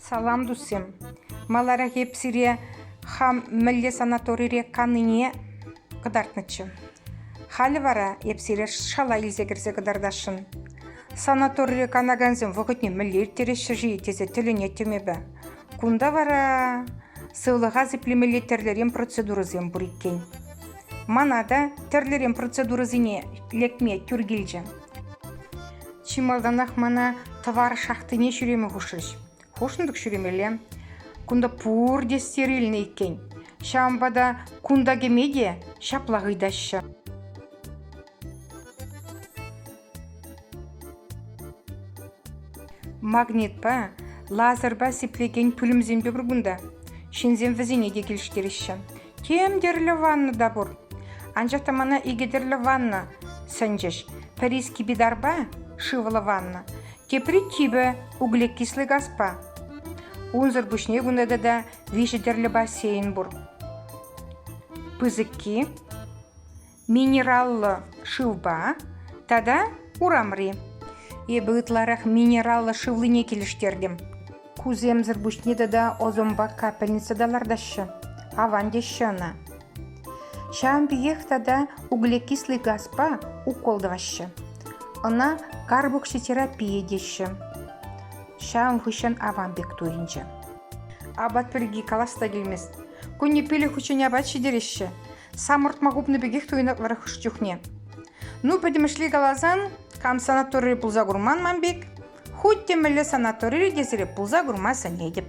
Салам, тусем! Маларах эп сире хам мӗнле санаторире каннине кӑтартнӑччӗ. Халӗ вара эп сире шала илсе кӗрсе кӑтартасшӑн. Санаторире канакансем вӑхӑтне мӗнле ирттереҫҫӗ-ши тесе тӗлӗнеттӗм эпӗ. Кунта вара сывлӑха сиплемелли тӗрлӗрен процедурӑсем пур иккен. Мана та тӗрлӗрен процедурӑсене лекме тӳр килчӗ. Чи малтанах мана тӑвар шахтине ҫӳреме хушрӗҫ. Хушӑнтӑк ҫӳремелле. Кунта пурте стер илнӗ иккен. Ҫавӑнпа та кунта кӗме те ҫаплах ыйтаҫҫӗ. Магнитпа, лазерпа сиплекен пӳлӗмсемпе пур кунта. Ҫынсем вӗсене те килӗштереҫҫӗ. Тем тӗрлӗ ванна та пур. Анчах та мана икӗ тӗрлӗ ванна сӗнчӗҫ. Пӗри скипидарпа шывлӑ ванна, тепри типӗ углекислый газпа. Унсӑр пуҫне кунта тата виҫӗ тӗрлӗ бассейн пур. Пысӑкки минераллӑ шывпа тата урамри. Эпӗ ытларах минераллӑ шывлине килӗштертӗм. Кусемсӗр пуҫне тата озонпа капельница та лартаҫҫӗ. Аван теҫҫӗ ӑна. Ҫавӑн пекех тата углекислый газпа укол тӑваҫҫӗ. Ӑна карбокситерапия теҫҫӗ. Ҫавӑн хыҫҫӑн аван пек туйӑнчӗ. Апат пирки калас та килмест. Кунне пилӗк хутчен апат ҫитереҫҫӗ. самӑртма хупнӑ пекех туйӑнатпӑрах чухне. Ну, пӗтӗмӗшле каласан, кам санаторире пулса курман ман пек, хуть те мӗнле санаторире те сире пулса курма сӗнетӗп.